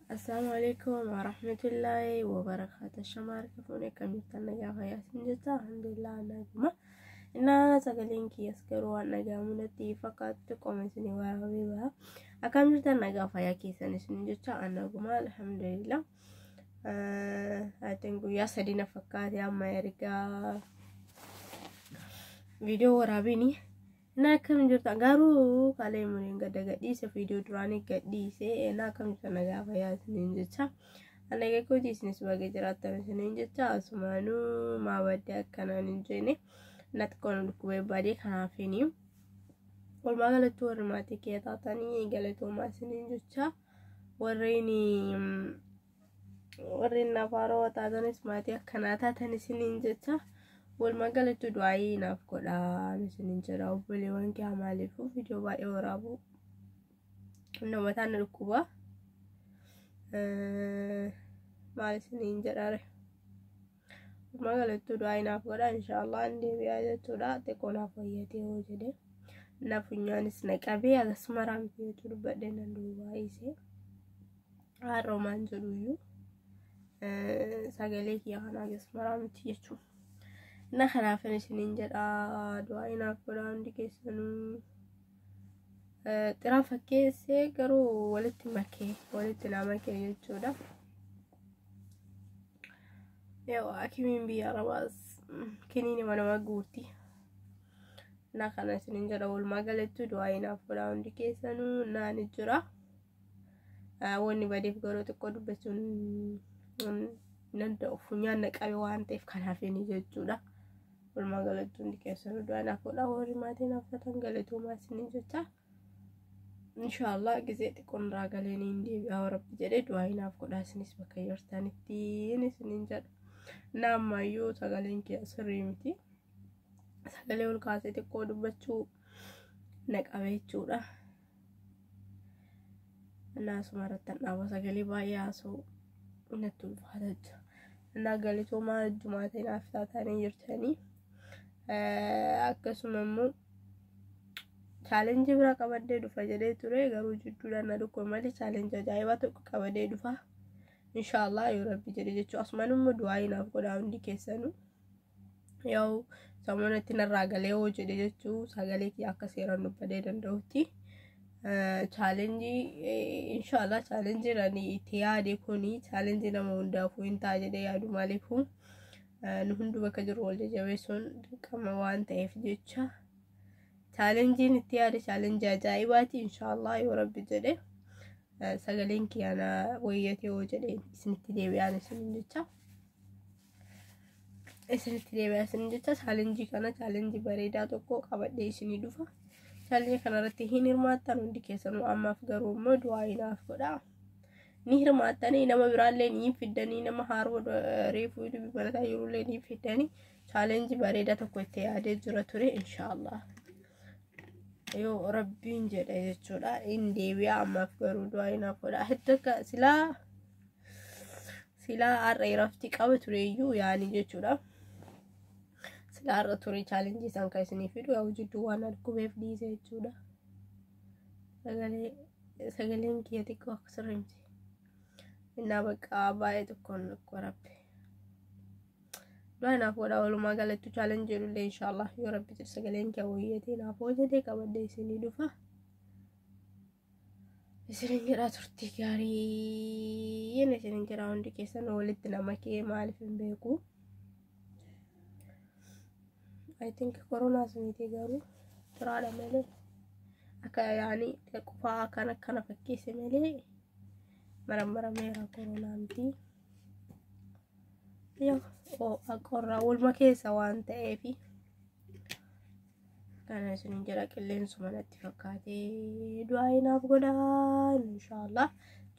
Assalamu alaikum wa rahmatullahi wa barakatuh. Shamaar kafuun akkamittan nagaa fayyaa sin jirta? Alhamdulillah naguma. Innaa sagaleen kiyas garuu waan dhaga'amu natti fakkaatu qoma isin waraabee baha. Akkam jirtan nagaa fayyaa keessan isin jirta? Naguma alhamdulillah. Atiin guyyaa sadii na fakkaate amma ergaa viidiyoo waraabini. Na akkam jirta garuu kalee muriin gadda gadhiise viidiyoo duraanii gadhiise na akkam jirta na gaafa yaasiniin jecha. Ana gaggootii isinis baga jiraattan isiniin jecha asumaanuu maa baddee akkanaan hin jeene natti qoonu dhukkubee baadee kanaafiini. Walumaa galatti warri maatii kee taatanii galatoomaa isiniin jecha. warreen warreen naaf haarawa taatanis maatii akkanaa taatan isiniin jecha walumaa galatti du'aayii naaf godhaan isiniin jedha obboleewwan kee maaliifuu viidiyoo baay'ee waraabuu namootaan na dhukkuba maal isiniin jedhaare. Walumaa galattuu du'aa inaaf godha inshaallah an deebi'aa jechuudha xiqqoo naaf fayyatee hoo jedhe na funyaanis na qabee akkasuma raamtii jechuu dubbadhee nan duubaa isee haaroomaan jedhuyyuu sagalee kiyya kanaa akkasuma raamtii jechuun na kanaafin isiniin jedha du'aa inaaf godha hundi keessanuu xiraan fakkeessee garuu walitti makee walitti naa makee jechuudha. Yoo hakimiin biyya arabaas kiniini manama guutti. Na kana isinin jedha walumaa galattu du'aa inaaf godhaa hundi keessanuu naan jira. Wanni badeef garuu xiqqoo dubbachuun danda'u funyaan na qabe waan ta'eef kanaaf inni jechuudha. Walumaa galattu hundi keessanuu du'aa inaaf godhaa warri maatiin hafatan galatoomaa isinin jecha. inshallah gizee xiqqoon irraa galee niin deebi'aa warabbi jedhee du'aa hinaaf godhaa isinis bakka jirtanitti isiniin jedha naammayyuu sagaleen kee sirrii miti sagalee ol kaasee xiqqoo dubbachuu na qabee jechuudha naasuma irratti dhaaba sagalee baay'ee haasoo natti ulfaata jechuudha naa galitoomaa jumaatee naaf taatanii jirtanii akkasuma immoo chaalenjii biraa qabadhee dhufa jedhee ture garuu jidduudhaan na dhukkube malee chaalenjii ajaa'ibaa tokko qabadhee dhufa inshaallah yoo rabbi jedhe jechuu asumaan immoo du'aayii naaf godhaa hundi keessanu yoo samoonatti narraa galee hoo jedhe jechuu sagalee kiyya akka seeraan dubbadee danda'utti chaalenjii inshaallah chaalenjiin ani itti yaade kuni chaalenjii nama hundaafuu hin ta'a jedhee yaadu maaliifuu nu hundu bakka jiru wal jajjabeessuun dirqama waan ta'eef jecha chaalenjiin itti yaade chaalenjii ajaa'ibaati inshaallah yoo rabbi jedhe sagaleen kiyaana wayyatee yoo jedhe isinitti deebi'aan isin jecha isinitti deebi'aa isin jecha chaalenjii kana chaalenjii bareedaa tokko qabadhee isinii dhufa chaalenjii kanarratti hin hirmaattan hundi keessanuu ammaaf garuu immoo du'aa inaaf godhaa ni hirmaattanii nama biraallee ni fiddanii nama haaroo reefuu ilmi barataa jirullee ni fiddanii chaalenjii bareedaa tokko itti yaadee jira ture inshaallah yoo rabbiin jedhe jechuudha in deebi'a ammaaf garuu du'aa inaaf godha heddaka silaa silaa har'a irafti qaba tureeyyuu yaani jechuudha silaa har'a ture chaalenjii isaan kan isinii fidu yaa jidduu waan argubeef dhiise jechuudha. Sagalee sagaleen kiyya xiqqoo akka sirrii miti. Innaa bakka baay'ee tokkoon akka rabbi. Du'aa naaf godha walumaa galattu chaalenji jedhullee inshaallah yoo rabbi jedhe sagaleen kiyya wayyeetee naaf hojjetee qabadhee isinii dhufa. Isinin jedhaa turtii gaarii. Inni isinin jedhaa hundi keessan walitti nama kee maaliif hin beeku. I think koronaa suniitii garuu turaadha malee akka yaani qufaa akkan akkana fakkeesse malee marammarameera koronaa miti. Qorraa walma keessa waan ta'eef kana isiniin jedha qilleensuma natti fakkaatee du'aa inaaf godhaa inshaallah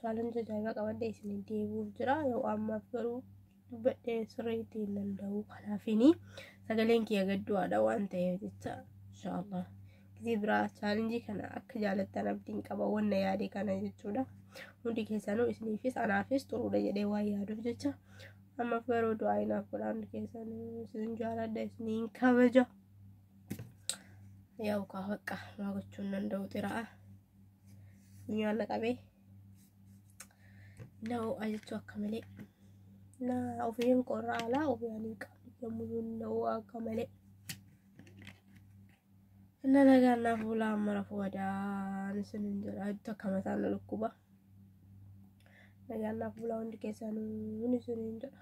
chaalenjii ajaa'iba qabadhee isiniin deebi'uuf jira yoo ammaaf garuu dubbadhee sirriitti hin danda'u kanaafini sagaleen kiyya gaddu'aadha waan ta'eef jecha inshaallah gizii biraa chaalenjii kana akka jaalattan abdiin qaba wanna yaade kana jechuudha hundi keessanuu isiniifis anaafis xuruudha jedhee waan yaaduuf jecha ammaaf garuu du'aa inaaf godha hundi keessanuu isin jaaladha isiniin kabaja yaa'u kaa baqqaa maa gochuun danda'u xira'a funyaan na qabee na ho'a jechuu akka malee na ofiin qorra alaa ofiyaan hin qabu yommuu na ho'a akka malee na nagaan naaf bulaa amma rafu wadaan isin hin jedha itti akka mataa na dhukkuba nagaan naaf bulaa hundi keessanuu isin hin jedha